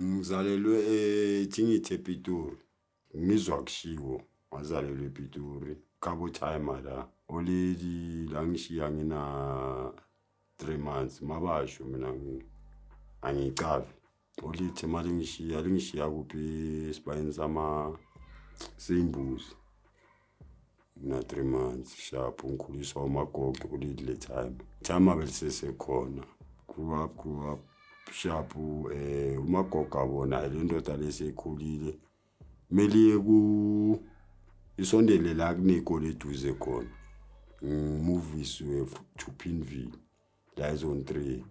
Ngizalelwe eThingithi ePitori. Ngizwa kushiwo ngazalelwa ePitori. Khabo time la. Oleli la ngishiya ngina 3 months mabasho mina angicavi. Olithi mali ngishiya lingishiya kuphi esibayeni sama simbuzi. na three months sharp ngikhuliswa umagogo kulidi le time time abelisesekhona grew up grew up sharp um eh, umagogo abona le ndoda leseyikhulile kumele ku isondele la kuney'kole eduze khona ngimuvisiwe to pinville la ezone three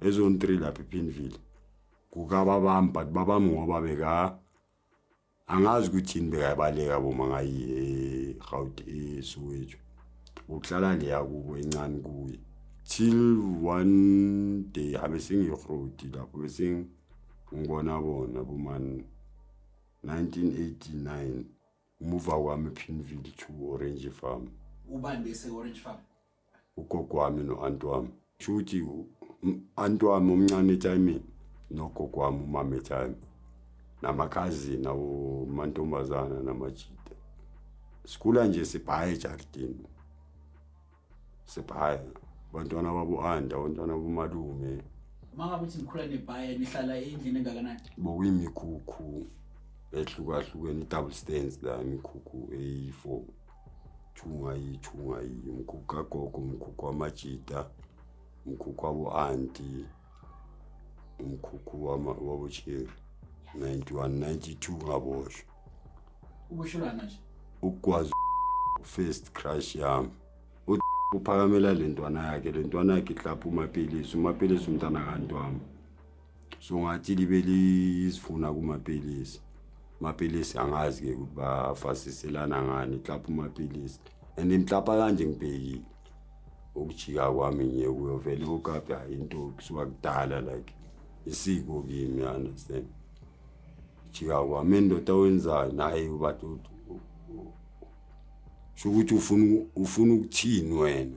ezone three lapha ipinville kukababami but babami ngoba beka angazi ukuthi yini bekayabaleka boma ngayi eGauteng eSoweto uhlala le yakubo encane kuye till one day abe sengirodi lapho bese ngibona bona bomani 1989 umuva kwami Pimville to Orange Farm ubani bese Orange Farm ugogo wami no-anti wami sho ukuthi anti wami omncane etshayimini nogogo wami umama etshayimi namakhazini awomantombazana namajita sikhula nje sibhaye ejardini sibhaye abantwana babu-anda abantwana bomalume mangabe uthi nikhula nebhaye nihlala endlini engakanani bokuyimikhukhu ehlukahlukene i-double stands la imikhukhu eyi-four Chungayi, chungayi, mkhukhu kagogo, mkhukhu wamajita, mkhukhu wabo-anti, umkhukhu wama- wabocheri 91 92 ngaboshwa ukushola manje ukukwazi first crush yami U- uphakamela le ntwana yakhe le ntwana yakhe ihlapha umapilisi umapilisi umntana kanti wami so ngathi libe lizifuna kumapilisi mapilisi angazi ke ukuthi bafasiselana ngani mhlawumbe umapilisi and mhlawumbe kanje ngibhekile ukujika kwami nje kuyovela ukukaphi hayi into kusuka kudala like isiko kimi understand jika kwami indoda owenzayo naye ubathi sho ukuthi ufuna ufuna ukuthini wena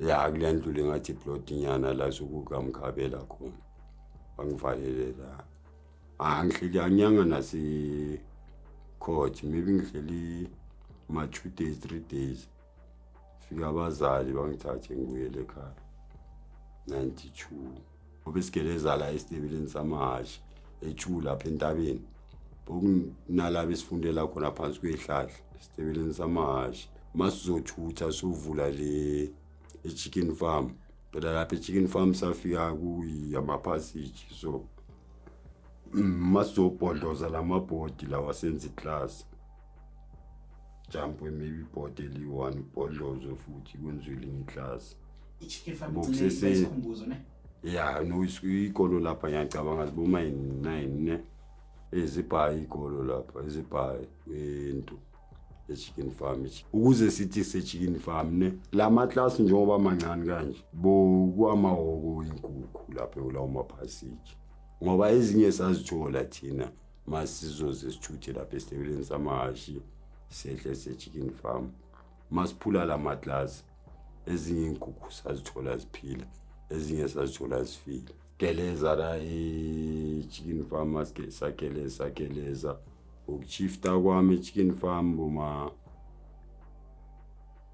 la kule ndlu le ngathi plotnyana la sukukamkhabela khona bangivalele la angihleli anyanga nasecourt maybe ngihleli ma-two days three days fika abazali bangithathe ngibuyele ekhaya ninety-two ngoba isigeleza la esitebeleni samahhashi etshu lapha entabeni bokunalaba esifundela khona phansi kweyihlahla esitebeleni samahhashi uma sizothutha sovula le e-chicken farm phela lapha e-chicken farm safika kuyamaphasiji so uma sizobhodloza la mabhodi lawa senza iklasi jump maybe ibhodi eliyi-one ibhodlozo futhi kwenziwe elinye iklasi ya no ikolo lapha ngiyacabanga ziboma nine ne ezibhayi ikolo lapha ezibhayi into echicken farm ukuze sithi sechicken farm ne la maklasi njengoba mancane kanje bokwamahoko inkukhu lapho lawo maphasiji ngoba ezinye sazithola thina masizoze sithuthe lapha esitebeleni samahhashi sehle se-chicken farm masiphula la maglasi ezinye iy'nkukhu sazithola ziphila ezinye sazithola zifile geleza la e-chicken farm maske sageleza geleza ukuchifta kwami e-chicken farm boma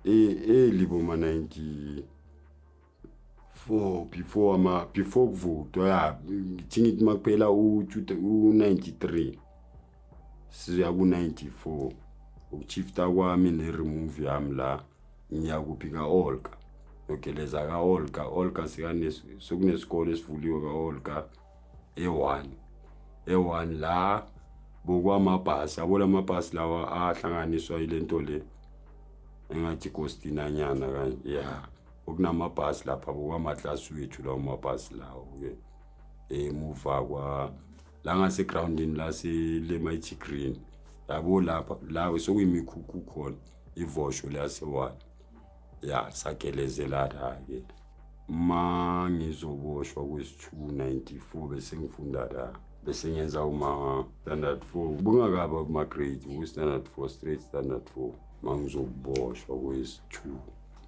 e-, eli boma 90 before before ama before kuvotwa ya ngithi ngithi makuphela u-93 sizoya ku-94 ukuchifta kwami ne-remove yami la ngiya kuphi ka-olka nogeleza ka-olka olka sekunesikole esivuliwe ka-olka e-one e-one la bokwamabhasi yabo la mabhasi lawa ahlanganiswa yile nto le engathi kostinanyana kanje ya yeah. okunamabhasi lapha bokwamatlasi wethu lawo mabhasi lawo-ke emuva kwa la ngasegroundini laselemighty green yabo lapha la sokuyimikhukhu khona ivosho liyasewala ya sagelezelana-ke ma ngizoboshwa kwesi-294 bese ngifunda la bese ngenza uma-standard four bungakaba kuma-grade ku-standard four straight standard four ma ngizoboshwa kwesi-two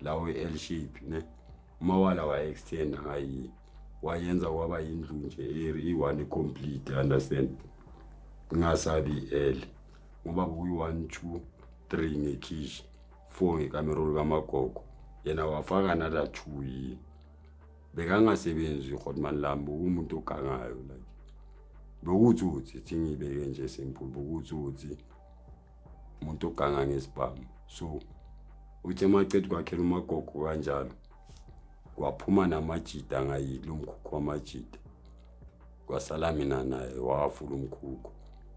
lawo i-l shape ne umawala waye-extenda ngayi wayenza kwaba yindlu nje i-one complete understand ngingasabi i-l ngoba kuyi-one two three ngekhishi four ngekamero lukamagogo yena wafaka nala two yini bekangasebenzi rhotman lami bekuwumuntu ogangayo like bekuwuthi uthi thi ngiyibeke nje simple bekuwuthi uthi umuntu oganga ngesibhamu so uthi emacedi kwakhela umagogo kanjalo kwaphuma namajida ngayidla umkhukhu wamajida kwasala mina naye wafula umkhukhu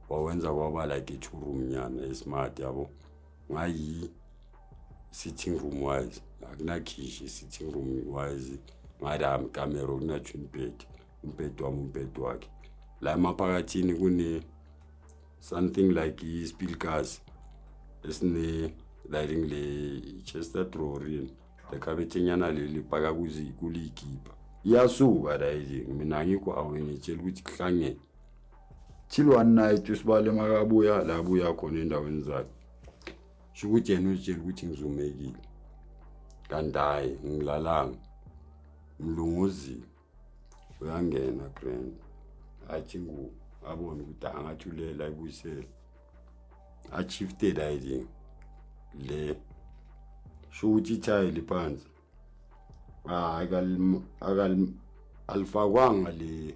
wawenza kwaba like i-two room nyana esmart yabo ngayi sitting room wise akunakhishi sitting room wise ngadami kamera kunatshwa umbhedi umbhedi wami umbhedi wakhe la emaphakathini kune something like ispilkazi esine-liring le-chester drorin lekhabethinyana leli paka kuliyikipa iyasuka layithi mina ngikho awe ngitshela ukuthi kuhlangene chilo one night usibale makabuya la buya khona endaweni zakhe sho ukuthi yena uzitshela ukuthi ngizumekile kanti hhayi ngilalanga mlunguzile uyangena grand athi ngu abone ukuthi angathi ulela ibuyisele achifted ayiding le sho ukuthi ithayi liphansi hayi alifakwanga le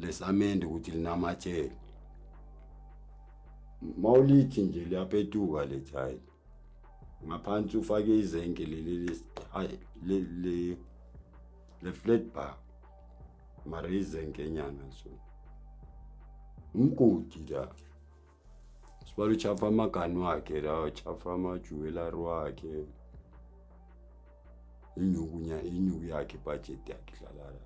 lesamende ukuthi linamatshele mawulithi nje liyapetuka le thayi ngaphansi ufake izenke leli le flat bar mara izenke nyana so umgodi la sibala uchafa amagani wakhe la uchafa amajuwelari wakhe inyuku inyuku yakhe ibhajethi yakhe dlala la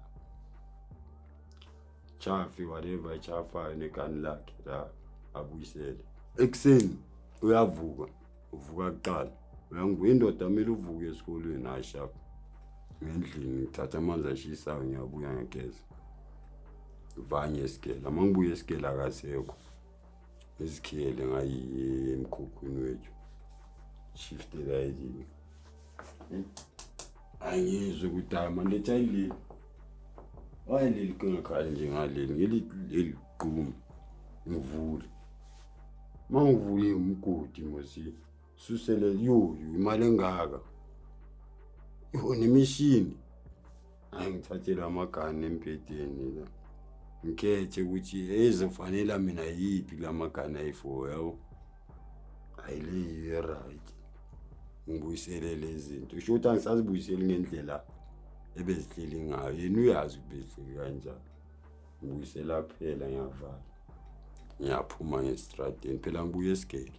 Chafi whatever echafayo negani lakhe la abuyisele. Ekuseni uyavuka, uvuka kuqala. Uyangibuya indoda kumele uvuke esikolweni hayi sharp. Ngendlini ngithatha amanzi ashisayo ngiyabuya ngiyageza. Vanye esigela, uma ngibuya esigela akasekho. Izikhele ngayi emkhukhwini wethu. Shiftela ezini. angizwe ukuthi hayi manje ethi ayileli waye leli qingakhali nje ngaleli ngeleli gqumi ngivule uma ngivule umgodi mosi susele yoyo imali engaka yona imishini angithathele amagani embhedeni la ngikhethe ukuthi ezofanela mina yiphi la magani ayi-four yabo ayileyiyo e-right ngibuyisele le zinto usho ukuthi angisazibuyiseli ngendlela ebezihleli ngayo yena uyazi ukuthi bezihleli kanjani ngibuyisela kuphela ngiyavala ngiyaphuma ngesitradeni phela ngibuye esigele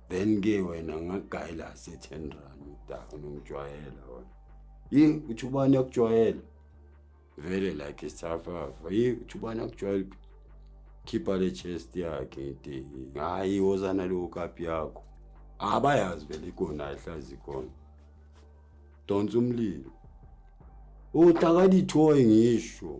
then ke wena ngagayela se 10 rand udaka nongijwayela wona yi uthi ubani akujwayela vele like isafafa yi uthi ubani akujwayela khipha le chest yakhe ite hayi wozana leyo kapi yakho abayazi vele ikona ayihlazi khona donsa umlilo utakadithoyi ngisho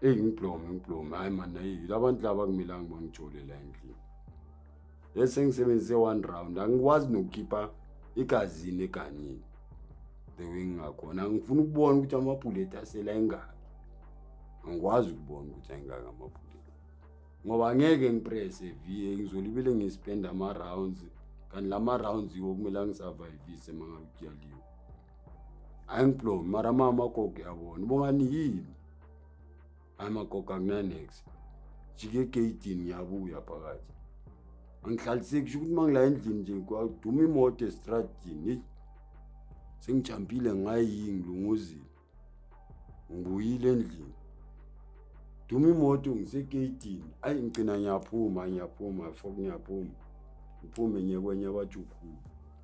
eyi ngiblomi ngiblomi hhayi mani ayi labantu laba kumelanga bangijole la endlini ye sengisebenzise one round angikwazi nokukhipha igazini eganyini the way ngingakhona angifuna ukubona ukuthi amabhuleti asela engaki angikwazi ukubona ukuthi ayingaki amabhuleti ngoba ngeke ngiprese vie ngizolibele ngispenda ama-rounds kanti la ma-rounds yiwo kumele angisavayivise uma ngabe kuyaliwe angiblomi mara mama koke yabona ubongani yini hayi magogo akunanex jike egeyidini ngiyabuya phakathi angihlaliseki sho ukuthi uma ngila endlini nje kwaduma imoto estradini eyi sengijampile ngayi ngilunguzile ngibuyile endlini duma imoto ngisegeyidini ayi ngigcina ngiyaphuma ngiyaphuma fok ngiyaphuma ngiphume ngiye kwenye wajukhulu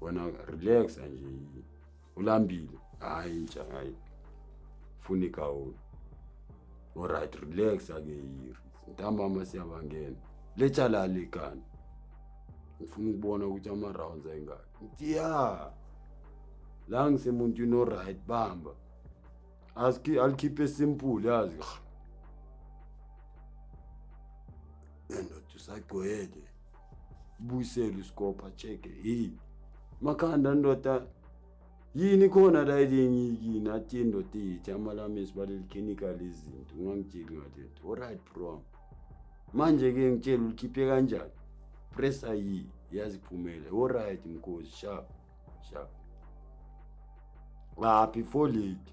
wena relax nje ulambile hayi ntsha hayi funa igawuni olright relax ake yiri ntambama siyabangena letshalali kani ngifuna ukubona ukuthi ama-rounds ayingaki ngithi ya la ngisemuntwini oright bamba alikhiphe simple yazi and usagcwele buyisele usikopha cheke hey makhanda ndoda yini khona la elingiyikini athi indoda iyithi amalami esibaleli clinical izinto ungangitsheli ngalento alright bro manje ke ngitshela ulikhiphe kanjani press ayi yaziphumele alright mkhozi sharp sharp ah before late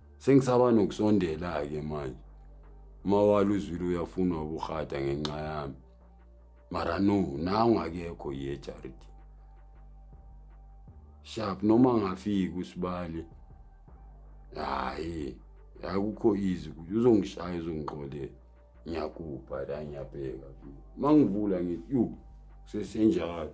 Sengisaba nokusondela-ke manje. Mawala uzwile uyafunwa ubuhata ngenxa yami. Mara no, nangu akekho ye Charity. Sharp noma ngafika usibali. Hayi, akukho easy ukuthi uzongishaya uzongiqolela. Ngiyakupha la ngiyabheka. Mangivula ngithi, "Yhu, sesenjalo."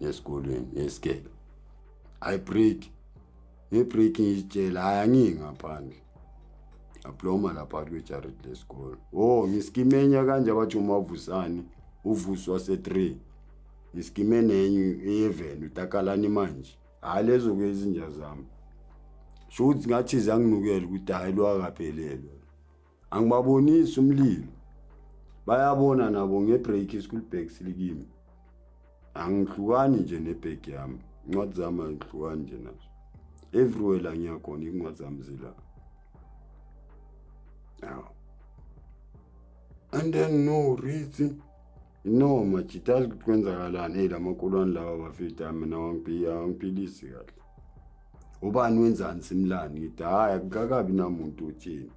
esikolweni ngesikele i break ngebreak ngiyitshela hayi angiyi ngaphandle abloma lapha kwejared lesikole o oh, ngisikimenya kanje abathi umavusane uvuswa se-three ngisikime nenye eyeveni utakalani manje hhayi lezo ke izinja zami sho ukuthi ngathi zanginukela ukuthi hhayi lwakaphelelwe angibabonisi umlilo bayabona nabo ngebreak school bag silikimi angihlukani nje nebag yami incwadi zami angihlukani nje nazo everywhere la ngiyakhona incwadi zami zila aw and then no reason No majita azi ukuthi kwenzakalani hey lamakulwane lawa bafita mina wangiphilisi kahle ubani wenzani simlani ngithi hayi akukakabi namuntu uthini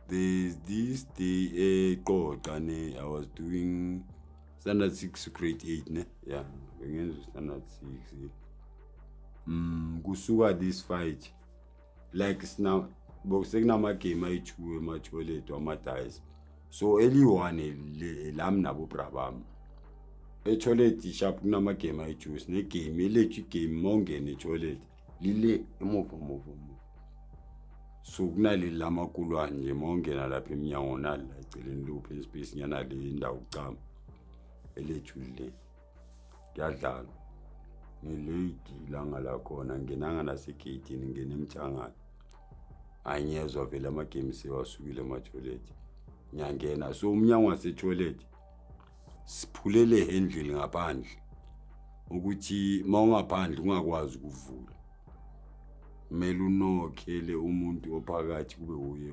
there's this day eqoqa eh, ne i was doing standard six grade eight ne ya bengenza standard six um kusuka this fight like sina bo sekunamagame ayi-two ematoilet wamadayisa so eliyi-one le- lami nabo bra bami etoilet sharp kunamagame ayi-two sinegame elethu igame uma ungena etoilet lile emuva muva muva so kunaleli lamakulwane nje uma ungena lapha emnyango nali la eceleni luphi inspace nyana le indawo kucama elethu lile kuyadlalwa ngilate ilanga lakhona nginanga nasegeyidini ngingena emthangana hhayi ngiyezwa vele amagame sewasukile emathoyilethi ngiyangena so umnyango wasetoyilethi siphulele handle ngaphandle ukuthi uma ungaphandle ungakwazi ukuvula kumele unokhele umuntu ophakathi kube wuye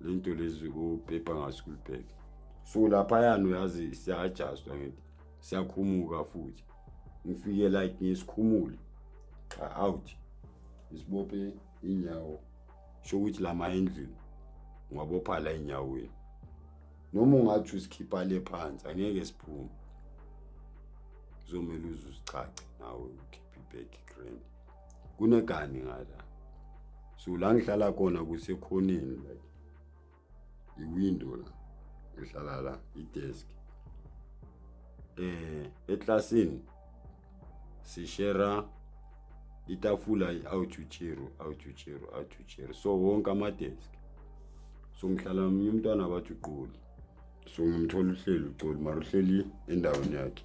lento lezi upepa ngasikubheke so laphayana uyazi siyajastwa ngithi siyakhumuka futhi ngifike like ngisikhumule cha out isibophe inyawo sho ukuthi lama endlini ngwabopha la enyaweni noma ungathi usikhipha le phansi angeke siphume kuzomele uze usichache nawe ukuthi background kunegani ngala so la ngihlala khona kusekhoneni like iwindow la ngihlala la idesk eh eklasini sishera itafula i-outchero outchero outchero so wonke amadesk so ngihlala nomunye umntwana abathi uqoli so ngimthola uhleli uqoli mara uhleli endaweni yakhe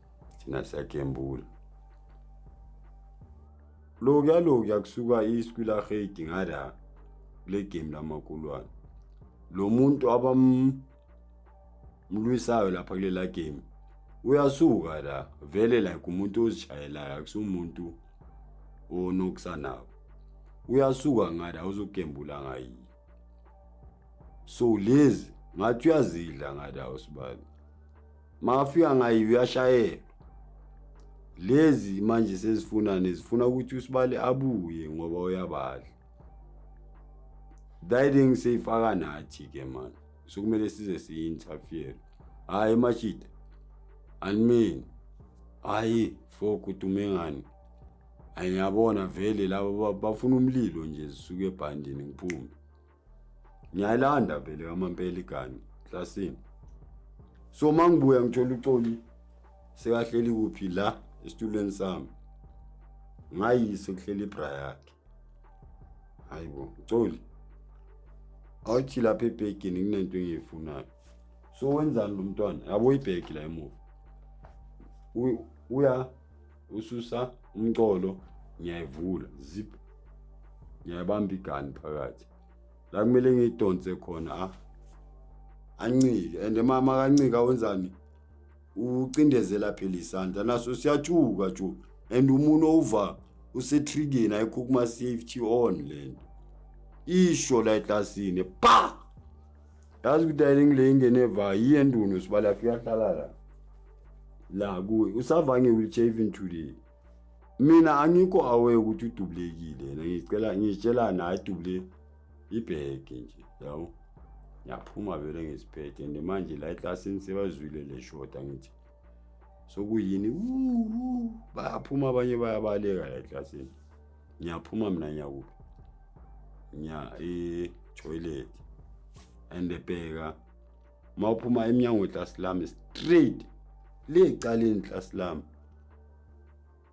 thina siyagembula lokuya lokuya kusuka iswi lahedi ngala kule game lamakulwane lo muntu abamlwisayo lapha kulela game uyasuka la vele like umuntu ozishayelayo akusumuntu onokusanawo uyasuka ngala uzogembula ngayini so lezi ngathi uyazidla ngala usibani makafika ngayo uyashayelwa lezi manje sezifuna nezifuna ukuthi usibali abuye ngoba uyabadla diding seyifaka nathi ke mani sokumele size siyi-interfere hhayi mashita animini hhayi fo kudume ngani ayiyabona vele laba bafuna umlilo nje zisuke ebhandini ngiphume ngiyayilanda vele kamampela igani klasini so uma ngibuya ngithola uxoli sekahleli kuphi la esitulweni sami ngayise kuhleli ibra yakhe hayi bo uxoli awuthi lapha ebhegini kunento engiyifunayo so wenzani lo mntwana yabo ibhegi la emuva uya ususa umcolo ngiyayivula zip ngiyabamba igani phakathi la kumele ngiyidonse khona a ah. ancike and mama kancika wenzani ucindezela phela isandla naso siyatshuka tshu and umuntu owuva usetrigeni ayikho kuma-safety on le nto isho la eklasini pa yazi ukuthi ayiningi le ingene eva yiye ndunu sibala afika ahlala la la kuwe usava nge-wheelchair even today mina angikho aware ukuthi udubulekile yena ngicela ngitshela naye dubule ibheke nje yabo ngiyaphuma vele ngesiphethe and manje la eklasini sebazwile le shota ngithi sokuyini bayaphuma abanye bayabaleka la eklasini ngiyaphuma mina ngiyakuphi ngiya etoilet and bheka uma uphuma emnyango weklasi lami straight le caleni iklasi lami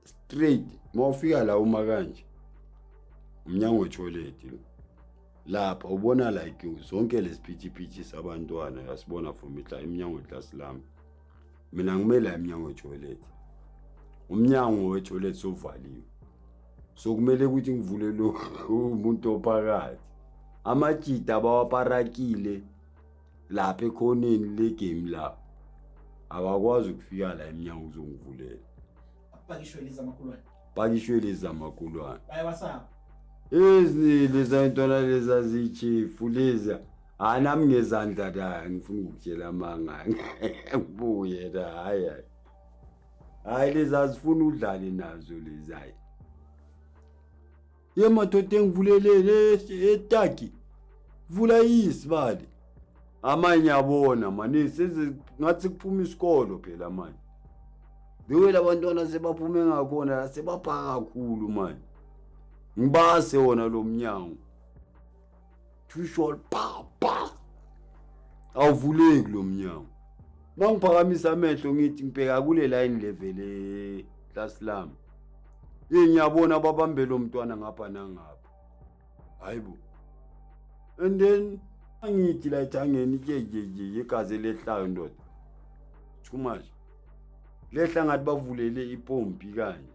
straight uma ufika la uma kanje umnyango wetoilet lo lapha ubona like zonke lesiphithiphithi sabantwana yasibona from itla emnyango weklasi lami mina ngimele emnyango wetoilet umnyango wetoilet sovaliwe so kumele ukuthi ngivule lo umuntu ophakathi amajida abawaparakile lapha ekhoneni legame lapho abakwazi ukufika la emnyango uzongivulela Pakishwe liza makulwane. Pakishwe liza makulwane. Bayabasaba. Izinili zayintwana leza zichifu leza. Hayi nami ngezandla la ngifuna ukutshela amanga. Ngibuye la hayi. Hayi leza zifuna udlale nazo lezi hayi. Ye madoda engivulelele etaki. Vula isibali. Amanye yabona mani seze ngathi kuphuma isikolo phela manje. Lewe labantwana sebaphume ngakhona sebapha kakhulu manje. Ngibase wona lo mnyango. Usual pa pa. Awuvuleki lo mnyango. Mangiphakamisa amehlo ngithi ngibheka kule line level e class lami. Yini ngiyabona ababambe lo mntwana ngapha nangapha. Hayibo. And then angithi la ithangeni ke ke ke yegazi lehlayo ndoda. Too much. Lehla ngathi bavulele ipompi kanje.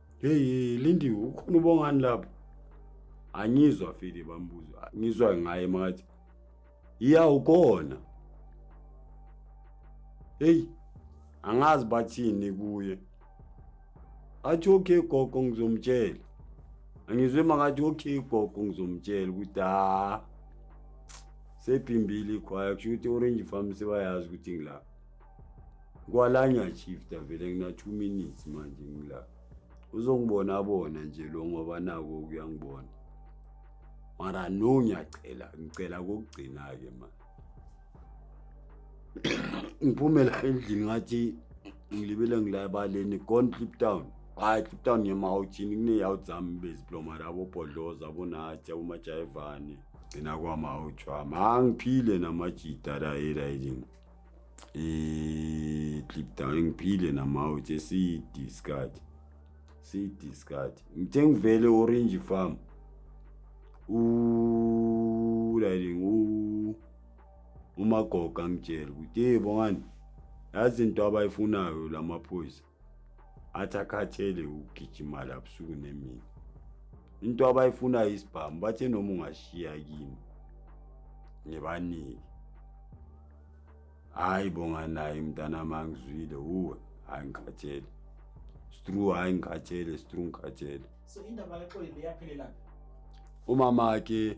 Hey Lindiwe ukhona ubongani lapho? Angizwa file bambuzo. Ngizwa ngaye makathi. Iya ukona. Hey angazi bathini kuye. Athi okay gogo ngizomtshela. Angizwe makathi okay gogo ngizomtshela ukuthi ha sebhimbile ikhwaya kusho ukuthi orange farm sebayazi ukuthi ngilapha. kwalanya shift avele kuna 2 minutes manje ngila uzongibona bona nje lo ngoba nako kuyangibona mara no ngiyacela ngicela kokugcina ke ma ngiphumela endlini ngathi ngilibele ngilabaleni gone clip down hayi clip down yemawuthini kuneyawuthi zami beziploma rabo bhodloza abonathi abomajayivane gcina kwamawuthwami angiphile namajita rayirayini Eh, clip down ngiphile namawu nje siyidiscard siyidiscard ngithe ngivele orange farm ulaying umagoga ngitshela ukuthi hey bongani yazi into abayifunayo lamaphoyisa athi akhathele ukugijima la busuku nemini into abayifunayo isibhamu bathe noma ungashiya kimi ngibanike hayi bonga naye mntana mangizwile uwe hayi ngikhathele stru hayi ngikhathele stru ngikhathele so indaba kaxoli leyaphelelaphi umama ke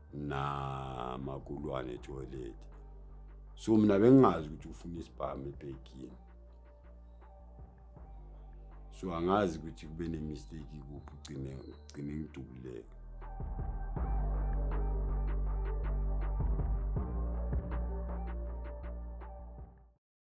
na makulwane toilet so mina bengingazi ukuthi ufuna isibhamu ebhekini so angazi ukuthi kube nemistake kuphi ugcine ugcine ngidubuleka